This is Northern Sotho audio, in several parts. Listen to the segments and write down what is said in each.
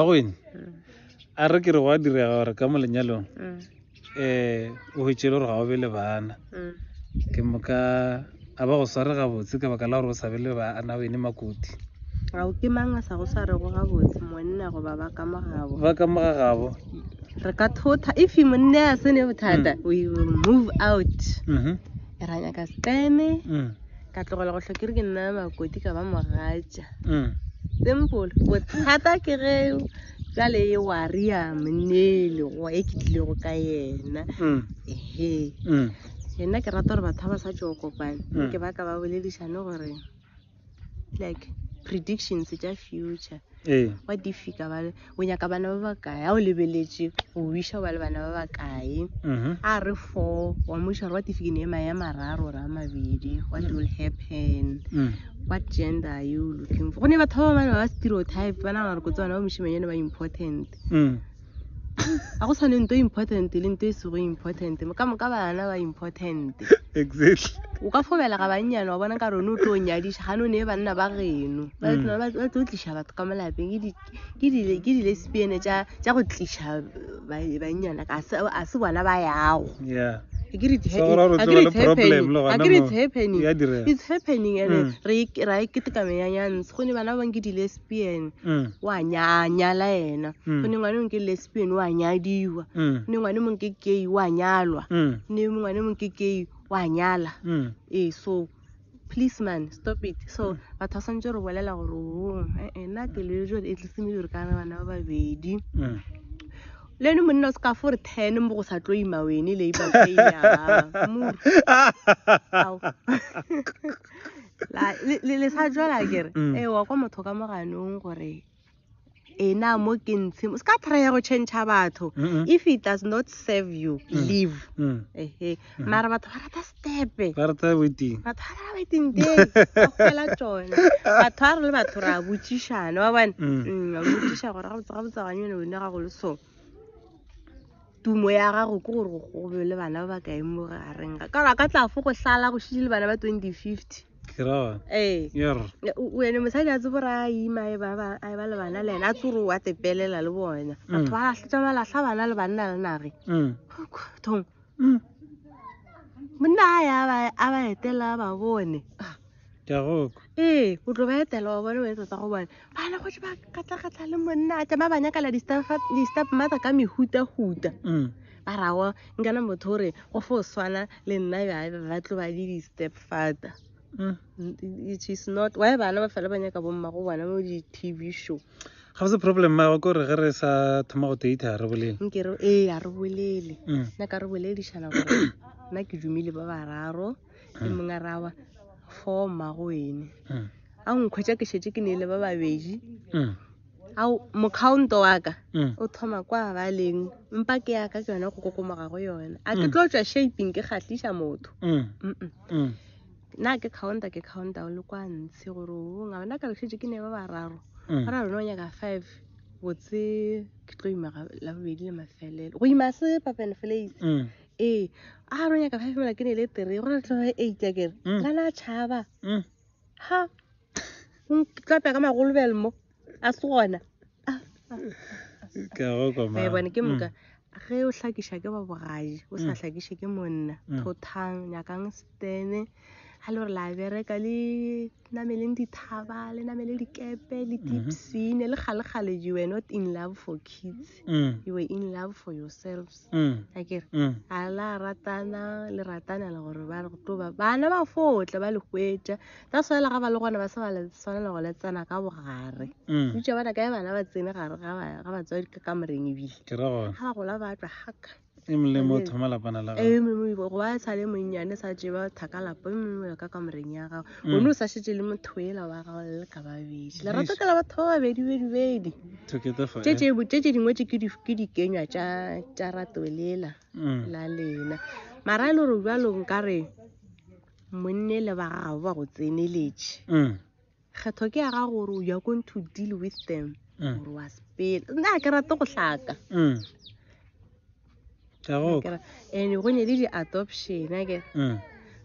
Bagweny, a re ke re gwa direga gore ka mo lenyalong um o hwetšele gore ga o be le bana ke moka a ba go sware gabotse ka baka la gore o sa be le bana wene makoti ao ke mang a sa go swarego gabotse monna goba ba ka mogabo ba ka moga gabo re ka thotha if monna a sene bothata we will move out Mhm, ra nyaka sekeme mm. ka tlogela go hlokere ke nna makoti ka ba mogatša mm. simple bothata ke ge jale e waria monnele go e ke tlilego ka yena mm. ehe mm. nna ke rata gore batho ba ba sa tšeo kopane ke ba ka ba boledišane gore like predictions tša future wa ee. difika bale o nyaka bana ba bakae a o lebeletše go wiša ba le bana ba bakae mhm. a re four wa moša gore wa tifikine ema ya mararo gore a mabedi what will happen mm. what gender are you looking for go ne batho ba bane ba ba stereotype ba nagana gore kotse bana ba mošimanyane ba important mm. a go tshwane nto important le nto e sego important ka moka bana ba important exactly o ka fobela ga bannyane wa bona ka rone o tlo nyadiša gane o ne e banna ba geno ba mm. tlo tliša batho ka molapeng ke di-lesbian tša go tliša bannyana a se bona ba yago it's happening and mm. ra e keteka meyanyantshe go ne bana ba bang ke di-lesbian mm. wa nyala ena mm. go ne ngwane mong ke lesbian wa nyadiwa go ne ngwane mong ke gay wa nyalwa ne ngwane mong ke gay wa nyala ee so please man stop it so batho ba santse re bolela gore ong e-e, eh, nna ke leo jale e tlise mediro ka re bana ba babedi mm. le ene monna o se ka fore ten mo go sa tlo ima wene le ibaeamor le sa jala kere mm. ee wa kwa motho ka moganong gore ena mo ke ntshe se ka try go change batho if it does not serve you mm. leave mm. ehe mm. mara batho ba rata stepe ba rata waiting batho ba rata waiting day ba fela tsone batho ba re le batho ra botsišana ba bana ba botsiša gore ga botsa ga botsa ganyone wena ga go le so tumo ya gago ke gore go gobe le bana ba ba kae mo gareng ga ka ka tla fo go hlala go šitše le bana ba 2050 ee ene mosadi a tsebore a ima a e ba le bana le ene a tsore wa tepelela le bona mm. batho ba lahletša ba lahla bana le banna le nage mm. thong mm. monna a ya a ba etela ba bone kagoko ee o tlo ba etela wa bone ba etsa tsa go bone bana go ba katlagatla le monna a tšama ba nyakala di-step mother ka mehutahuta mm. ba rago nkana motho gore go fo swana le nna ba tlo ba di di-step father mm. it is not why bana ba fela ba nyaka bomma go bona mo di-tv show ga se problem ma go re ge re sa thoma go date ha re bolele nke re eh ha re bolele mm. na ka re boledišana gore nna ke dumile ba bararo le mm. mongwe rawa for mago ene mm. a nkhwetša ke šetse ke ne le ba babedi a mokhaonto wa ka o thoma kwa ba leng mpa ke ya ka ke yone go kokomoga go yone a ke tlo tswa shaping ke kgatlisa motho na ke counta ke counta o le kwa ntshe gore ong a bona ka bešetse ke ne ba bararo mm. ba ra rona o nyaka five botse ke tlo ima la bobedi le mafelelo go ima se papen flace mm. ee a rona nyaka five mela ke ne le tere gore tloge eight a kere mm. la na tšhaba ha tlapya ka magolobel mo a se gona ka go koma eh, bone ke mm. moka ge o hlakiša ke ba bogaji o sa mm. hlakiše ke monna mm. thothang nyakang stene ga le gore la bereka le nameleng dithaba le namele dikepe le mhm. dipsine le kgalekgale you were not in love for kids married mm. you were in love for yourselves mm. a kere mm. a la ratana le ratana le gore ba go toba bana ba fotle ba le hwetša ta swela ga ba le gona ba se ba le tshwanela go le tsena ka bogare mm. bitša bana kae bana ba tsene gare ga batswadi ka kamoreng ebile ga ba gola ba tla haka e molemo o thoma lapana la gago ee go ba e sa le monnyane sa tseba thaka lapa e mongwe ka kamoreng ya gago mm. o ne o sa šetse le motho ela wa gago le ka babedi lerato ke la batho ba babedi bedibedi tše tše dingwe tše ke dikenywa tša rato lela mm. la lena mara e le gore bjalong ka re monne le ba gago ba go tseneletše mm. kgetho ke ya ga gore you are going to deal with them mm. gore wa sepela nna ke rate go hlaka mm. and go ne le di-adoption ake mm.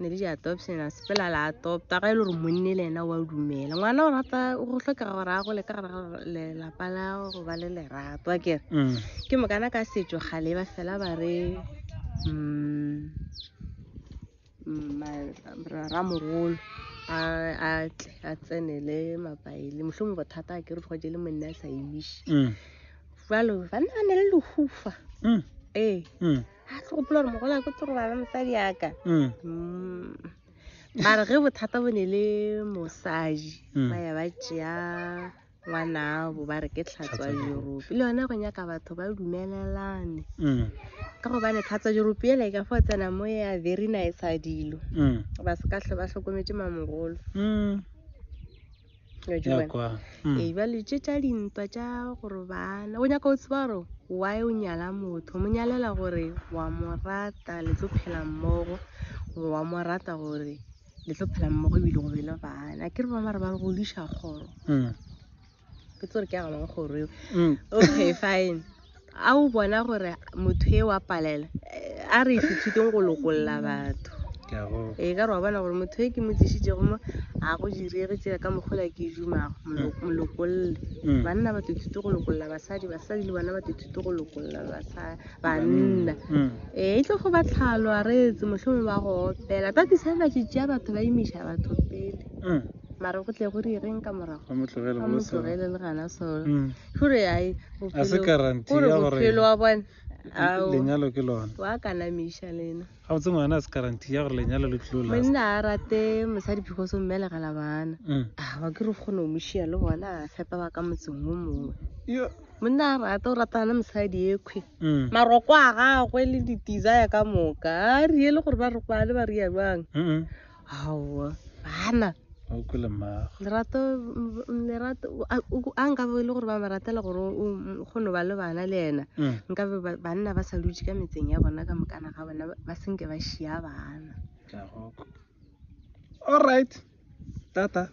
ne le di-adoption a sepela la adopta ga e le gore monne le ena wa dumela ngwana o rata go tlhokega gore a gole ka gara lelapa la go ba le lerato akere ke mokana ka setso gale ba fela ba re um ramogolo a tle a tsenele mapaele mohlomong bothata a kere tloje le monne a sa emise mm. jalo banna ba ne le lehufa mm. ee mm. a tlo gopola gore mogolo a ko toro bana mosadi yaka mare ge bothata bo ne le mosadi ba ya ba tšea ngwanabo ba re ke tlhatswa europe le yone go nyaka batho ba dumelelane mm. ka gobane tlhatswa europe ele ka fo tsena mo ya very nice a dilo mm. ba se ka tlho ba hlokometse mamogolo mm. ee ba letse tša dintwa tša gore bana go nyaka o tseba gore why o nyala motho mo nyalela gore wa mo rata le tlo phela mmogo wa mo rata gore le tlo phela mmogo ebile go be le bana ke re ba mare ba re go diša kgoro mm. ke tsore ke agabang kgoro eo mm. okay fine a o bona gore motho e wa palela eh, a re sethuteng go lokolola batho ee ka re wa bona gore motho e ke mo tlisitsego mo a go direge tsela ka mogola ke dumago mm. molokololle mm. banna ba tothuto go lokolola basadi basadi le bona ba tothuto go lokolola basadi banna ee e tlo go ba tlhalo a reetse mohlome ba go opela tatisa ba tšetšea batho ba imiša batho pele mm. mare go tle go di reng ka morago a motlogele le gana solo mm. gore ai bophelo wa bone lenyalo ke lona wa kanamiša lena Gabotse ngwana a se guarantee ya gore lenyalo le tlilo last. Monna a rate mosadi because o mmelegela bana. Ah ba ke re kgone go mošia le bona a fepa ba ka motseng wo mongwe. Monna a rate o ratana mosadi ekhwi. Maroko a gagwe le di-desire ka moka. A riele gore ba re kwale ba ria jwang. aowa gana o kwele mmago lerato lerato a nkabe e le gore ba mo ratela gore o kgone ba le bana le ena mm. nkabe banna ba sa dutse ka metseng ya bona ka mokana ga bona ba senke ba šia bana all right tata